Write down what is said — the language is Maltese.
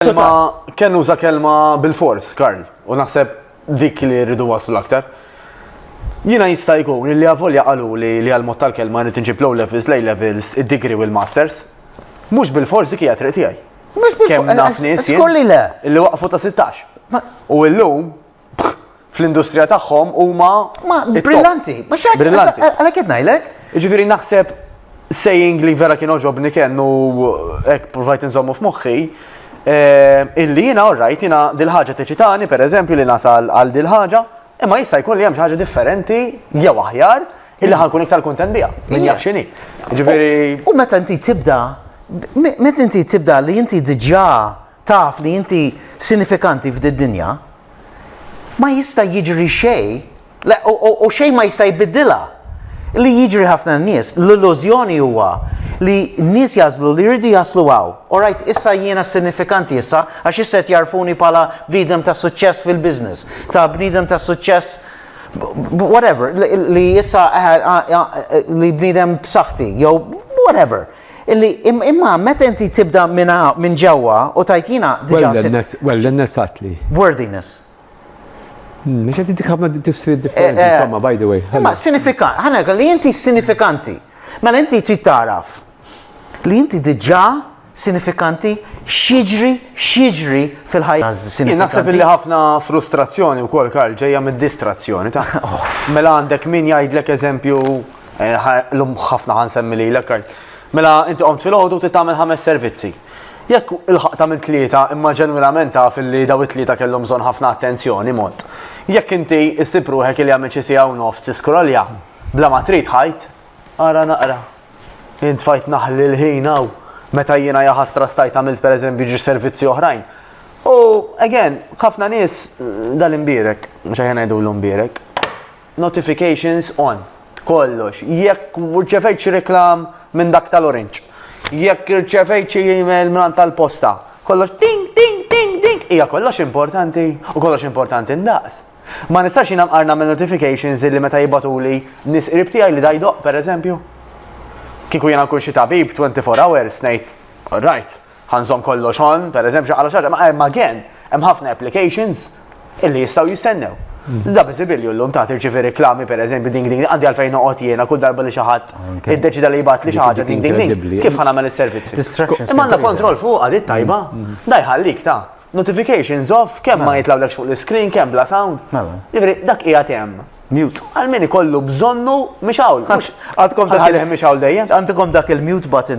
Kelma, kien uża kelma bil-fors, Karl, u naħseb dik li rridu waslu l-aktar. Jina jista' jkun li għavolja qalu li li għal-mod tal-kelma rrid nġib low levels, lay levels, id-degree u l-masters. Mhux bil-fors dik hija triq tiegħi. Kemm naf nies li waqfu ta' 16. U illum fl-industrija tagħhom huma brillanti. Brillanti. Għalhekk qed ngħidlek. Jiġifieri naħseb saying li vera kien oġobni kien u hekk provajt inżommu f'moħħi eh, illi jiena orrajt jiena dil-ħaġa teċitani pereżempju li nasal għal dil-ħaġa imma jista' jkun li hemm xi ħaġa differenti jew aħjar illi ħankun iktar kuntent biha minn jaf x'inhi. Ġifieri. U meta inti tibda meta inti tibda li inti diġà taf li inti sinifikanti f'did-dinja, ma jista' jiġri xejn, le u xejn ma jista' jbiddilha. Li jiġri ħafna nies, l-illużjoni huwa li n-nies jagħżlu li jridu jaslu hawn. Orajt, issa jiena sinifikanti issa, għax issa qed jagħrfuni bħala bniedem ta' suċċess fil-business, ta' bniedem ta' suċċess whatever, li issa li bniedem b'saħħti, jew whatever. Illi, imma meta inti tibda minn hawn, minn ġewwa, u tgħid jiena diġà sirt. Wellness, wellness għatli. Worthiness. Mhux qed intik ħafna tifsiriet differenti, Eh, eh. insomma, by the way. Imma sinifikanti, ħana ngħidlek li inti sinifikanti. Mela inti trid tagħraf li inti diġà sinifikanti x'jiġri x'jiġri fil-ħajja Jien sinifikanti. naħseb illi ħafna frustrazzjoni wkoll Karl ġejja mid-distrazzjoni ta'. Mela għandek min jgħidlek eżempju L-lum ħafna ħan semmi li l-ekkar. Mela, inti qomt fil-ħodu ti tagħmel ħames servizzi. Jekk il-ħaq ta' minn tlieta imma ġenwinament taf li daw it-tlieta kellhom bżonn ħafna attenzjoni mod. Jekk inti issib ruħek li għamil xi siegħa u nofs tiskrolja, bla ma trid ħajt, ara naqra. Int fajt naħli l-ħin hawn meta jiena jaħasra stajt għamilt per eżempju ġi servizzi oħrajn. U, again, ħafna nies eh, dal-imbirek, mux għajna jdu l-imbirek, Notifications on, kollox. Jekk rċevejt xi reklam minn dak tal-orange. Jekk irċevejt xi email minn tal-posta. Kollox ding, ding, ding, ding. Hija kollox importanti u kollox importanti ndaqs. Ma nistax jina mqarna minn notifications li meta jibatuli nis qrib tiegħi li dajdoq, per eżempju. Kiku jena kun xi tabib 24 hours ngħid, all right, Ħa nżomm kollox on, pereżempju, x'aqra xi ħaġa, ma hemm again, hemm ħafna applications illi jistgħu jistennew. Da biżibilju llum ta' tirċivi reklami pereżempju ding ding għandi għalfejn noqgħod jiena kull darba li xi ħadd iddeċida li jibgħat li xi ħaġa ding ding ding kif ħa nagħmel is-servizzi. Imma għandna kontroll fuq għad it-tajba, da jħallik ta' notifications off kemm ma jitlawlekx fuq l-screen, kemm bla sound. Jiġifieri dak qiegħed hemm. Mute. Għal min ikollu bżonnu mhix hawn. Għandkom dak il-mute button